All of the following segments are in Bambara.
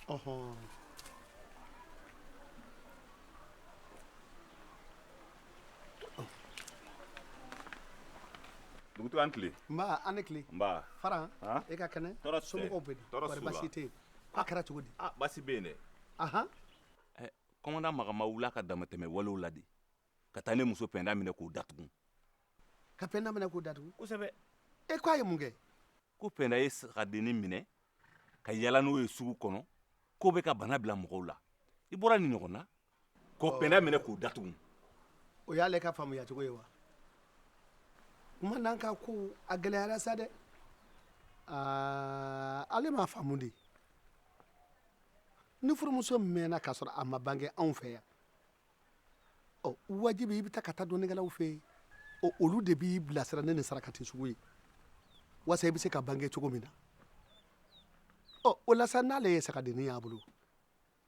Aha. Dugutigi an tile an ni tile fara e ka kɛnɛ tɔɔrɔ so bɛ tɔɔrɔ basi tɛ a kɛra cogo di basi bɛ yen dɛ ahan kumandan makan ma wul'a ka damatɛmɛ wale la de ka taa ne muso pɛnda minɛ k'o datugu ka pɛnda minɛ k'o datugu kosɛbɛ e k'a ye mun kɛ ko pɛnda ye sagadennin minɛ ka yala n'o ye sugu kɔnɔ k'o bɛ ka bana bila mɔgɔw la i bɔra nin ɲɔgɔn na ka pɛnda minɛ k'o datugu o y'ale ka faamuya cogo ye wa kumandan ka ko a gɛlɛyara sa dɛ aa ale m'a faamu de ni furumuso mɛnna k'a sɔrɔ a ma bange anw fɛ yan wajibi i bɛ taa ka taa dɔnnikɛlaw fɛ yen olu de b'i bilasira ne ni sarakati sugu ye wa i bɛ se ka bange cogo min na o la n'ale ye sagadennin y'a bolo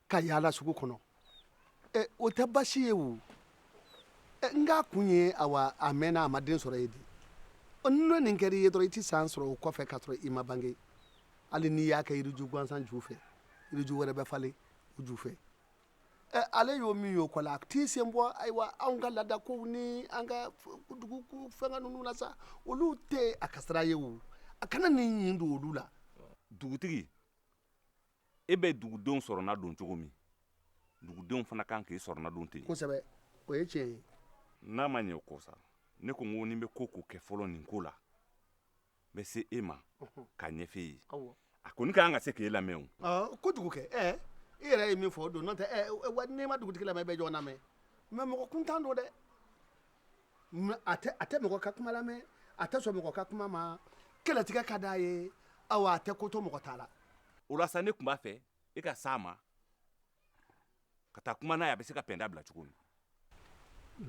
ka yaala sugu kɔnɔ o tɛ basi ye wo nka a kun ye a a mɛnna a ma den sɔrɔ ye de n'o nin kɛra i ye dɔrɔn i tɛ san sɔrɔ o kɔfɛ ka sɔrɔ i ma bange hali n'i y'a kɛ yiriju gansan ju fɛ yiriju wɛrɛ bɛ falen ju fɛ ale y'o min y'o ko la a t'i sen bɔ ayiwa anw ka laadakow ni an ka dugu fɛn ninnu la sa olu tɛ a ka sira ye wo a kana nin ɲin don olu la dugutigi e bɛ dugudenw sɔrɔna don cogo min dugudenw fana kan k'i sɔrɔna don ten kosɛbɛ o ye tiɲɛ ye n'a ma ɲɛ o kɔ sa ne ko n ko ni n bɛ ko o ko kɛ fɔlɔ nin ko la n bɛ se e ma k'a ɲɛfɔ e ye a kɔni ka kan ka se k'e lamɛn o kojugu kɛ ɛ i yɛrɛ ye min fɔ o don n'o tɛ ɛ n'i ma dugutigi lamɛn i bɛ jɔn lamɛn mɛ mɔgɔ kuntan don dɛ mɛ a tɛ a tɛ mɔgɔ ka kuma lamɛn a tɛ sɔn mɔgɔ ka kuma ma kɛlɛtigɛ ka d'a ye awa a tɛ ko to mɔgɔ ta la o la sa ne tun b'a fɛ e ka s'a ma ka taa kuma n'a ye a bɛ se ka pɛnda bila cogo min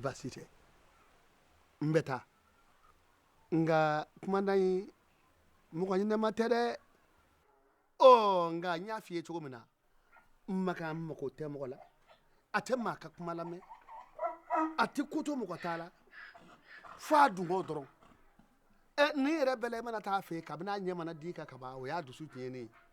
baasi tɛ n bɛ taa nka kumandan in mɔgɔ ɲɛnama tɛ dɛ ɔ nka n y'a f'i ye cogo min na makan mako tɛ mɔgɔ la a tɛ maa ka kuma lamɛn a tɛ ko to mɔgɔ ta la fo a dungɔ dɔrɔn ɛ ni yɛrɛ bɛɛ la i mana taa a fɛ kabini a ɲɛ mana d'i kan ka ban o y'a dusu tiɲɛnen ye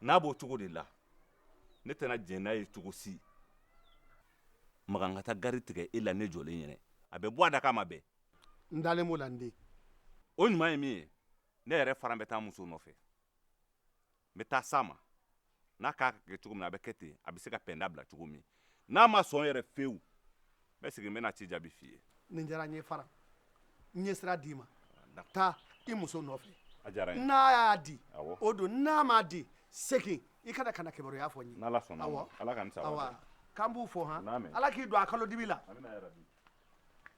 n'a b'o cogo de la ne tɛna jɛn n'a ye cogo si makan ka taa gari tigɛ e la ne jɔlen ɲɛ na a bɛ bɔ a da k'a ma bɛn n dalen b'o la n den o ɲuman ye min ye ne yɛrɛ fana bɛ taa n muso nɔfɛ n bɛ taa s'a ma n'a k'a ka kɛ cogo min na a bɛ kɛ ten a bɛ se ka pɛnda bila cogo min n'a ma sɔn yɛrɛ fewu bɛ segin n bɛna ci jaabi f'i ye nin diyara n ye faran n ye sira d'i ma taa i muso nɔfɛ a diyara n ye n'a y'a di Awɔ. o don n'a m'a di segin i ka na ka na kibaruya fɔ n ye n'ala sɔnna Awɔ. ma ala ka n sago awa k'an b'u fo han Naamu. ala k'i don a kalo dibi la amiina yarabi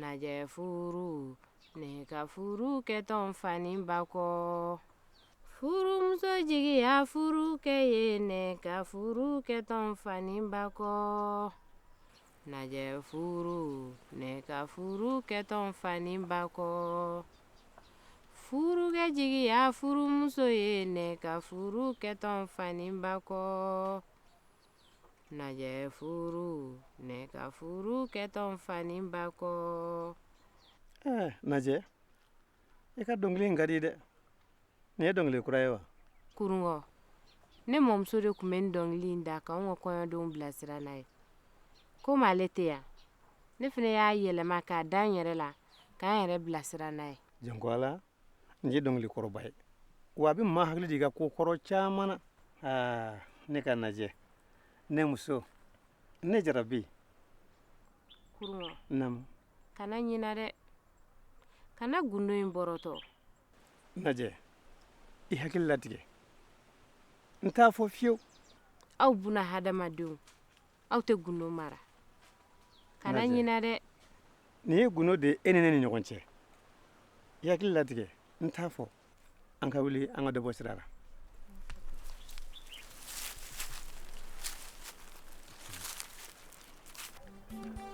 Najɛ furu ne ka furu kɛ tɔnfaba kɔ furumuso jigiya furukɛ ye ne ka furu kɛ tɔnfaba kɔ najɛ furu ne ka furu kɛ tɔnfaba kɔ furukɛ jigiya furumuso ye ne ka furu kɛ tɔnfaba kɔ Najɛ furu ne ka furu kɛ tɔnfani ba kɔ najɛ i ka dɔnkili in ka di dɛ nin ye dɔnkili kura ye wa kurungɔ ne mɔmuso de tun bɛ nin dɔnkili in da k'an ka kɔɲɔdenw bilasira n'a ye komi ale tɛ yan ne fana y'a yɛlɛma k'a da n yɛrɛ la ka n yɛrɛ bilasira n'a ye jɔn ko ala nin ye dɔnkili kɔrɔba ye wa a bɛ maa hakili jigin ko kɔrɔ caman na aa ne ka najɛ ne muso ne jarabi kuruma naamu kana ɲina dɛ kana gundo in bɔrɔtɔ najɛ i hakili latigɛ n t'a fɔ fiyewu aw buna hadamadenw aw tɛ gundo mara kana ɲina dɛ nin ye gundo de ye e ni ne ni ɲɔgɔn cɛ i hakili latigɛ n t'a fɔ an ka wuli an ka dɔ bɔ sira la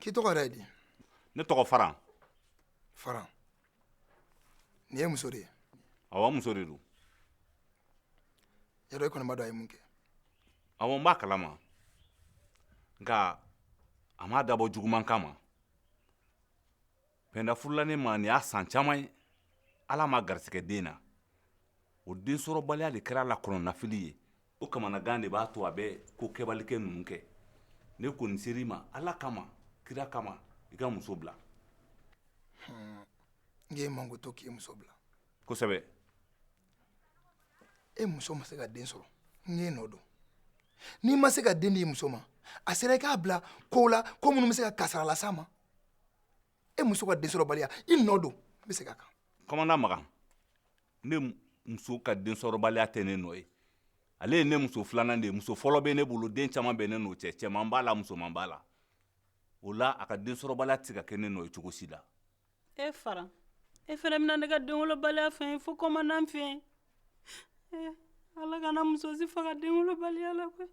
k'i tɔgɔ yɛrɛ ye di ne tɔgɔ faran faran nin ye muso de ye awa muso de don yɔrɔ i kɔni b'a dɔn a ye mun kɛ awa n b'a kalama nka a m'a dabɔ juguman kama pɛnda furula ne ma nin y'a san caman ye ala m'a garisɛgɛ den na o densɔrɔbaliya de kɛra a la kɔnɔnafili ye o kamanagan de b'a to a bɛ ko kɛbalikɛ ninnu kɛ ne kɔni sera i ma ala kama kira kama i ka muso bila n ye manko to k'i muso bila kosɛbɛ e muso ma se ka den sɔrɔ ne nɔ don n'i ma se ka den di i muso ma a sera i k'a bila kow la ko minnu bɛ se ka kasara las'a ma e muso ka densɔrɔbaliya i nɔ don n bɛ segin a kan kɔmanda makan ne muso ka densɔrɔbaliya tɛ ne nɔ ye ale ye ne muso filanan de ye muso fɔlɔ bɛ ne bolo den caman bɛ ne n'o cɛ cɛman b'a la musoman b'a la o la a ka densɔrɔbaliya tɛ se ka kɛ ne nɔ ye cogo si la e fara e fana bɛna ne ka denwolobaliya fɛn ye fo kɔmandan fɛ yen eh, ala kana muso si faga denwolobaliya la koyi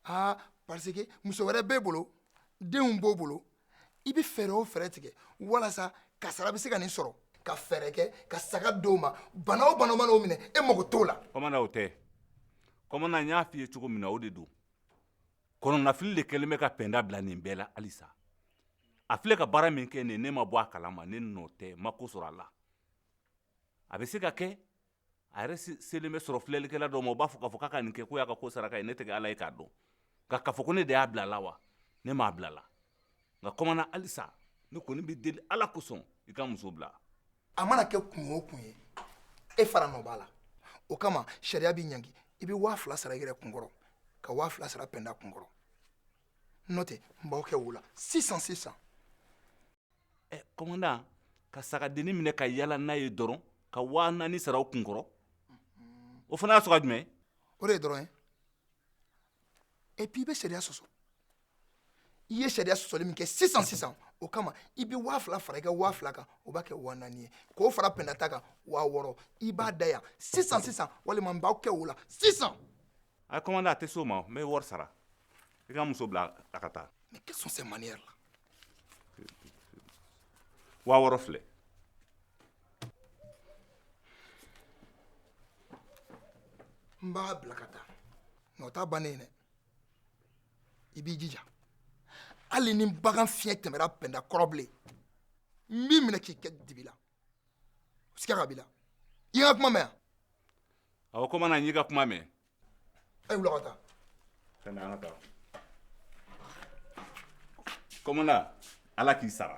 aa parce que muso wɛrɛ b'e bolo denw b'o bolo i bɛ fɛɛrɛ o fɛɛrɛ tigɛ walasa kasara bɛ se ka nin sɔrɔ ka fɛɛrɛ kɛ ka saga di o ma bana o bana mana o minɛ e mago t'o la kɔmanda o tɛ kɔmanda n y'a f'i ye cogo min na o de don kɔnɔnafili de kɛlen bɛ ka pɛnda bila nin bɛɛ la halisa a filɛ ka baara min kɛ nin ye ne ma bɔ a kalama ne nɔ tɛ n ma ko sɔrɔ a la a bɛ se ka kɛ a yɛrɛ selen bɛ sɔrɔ filɛlikɛla dɔ ma o b'a fɔ k'a fɔ k'a ka nin kɛ k'o y'a ka ko saraka ye ne tɛ ala ye k'a dɔn nka k'a fɔ ko ne de y'a bila a la wa ne m'a bila a la nka kɔmanda halisa ne kɔni b'i deli ala kosɔn i ka muso bila a mana kɛ kun o kun ye e fara nɔ b'a la o kama sariya b'i ɲangi i bɛ waa fila sara i yɛrɛ kunkɔrɔ ka waa fila sara pɛnda kunkɔrɔ n'o tɛ n b'aw kɛ wo la sisan sisan ɛ komandan ka sagadennin minɛ ka yaala n'a ye dɔrɔn ka waa naani sara o kunkɔrɔ o fana y'a sɔrɔ a jumɛn o de ye dɔrɔn ye epi i bɛ sariya sɔsɔ i ye sariya sɔsɔli min kɛ sisan sisan o kama i bɛ waa fila fara i ka waa fila kan o b'a kɛ waa naani ye k'o fara pɛnda ta kan waa wɔɔrɔ i b'a da yan sisan sisan walima n b'aw kɛ wo la sisan a komandan a tɛ se o ma n bɛ wari sara i ka muso bila a ka taa ne kɛ sɔn sɛ maniyɛri la waa wɔɔrɔ filɛ n b'a bila ka taa nka o t'a bannen dɛ i b'i jija hali ni bagan fiɲɛ tɛmɛra pɛnda kɔrɔ bilen n b'i minɛ k'i kɛ dibi la siga ka b'i la i ye n ka kuma mɛn wa awɔ kɔmanda n y'i ka kuma mɛn A ye wuli ka taa. Pɛnda an ka taa. Kɔmanda Ala k'i sara.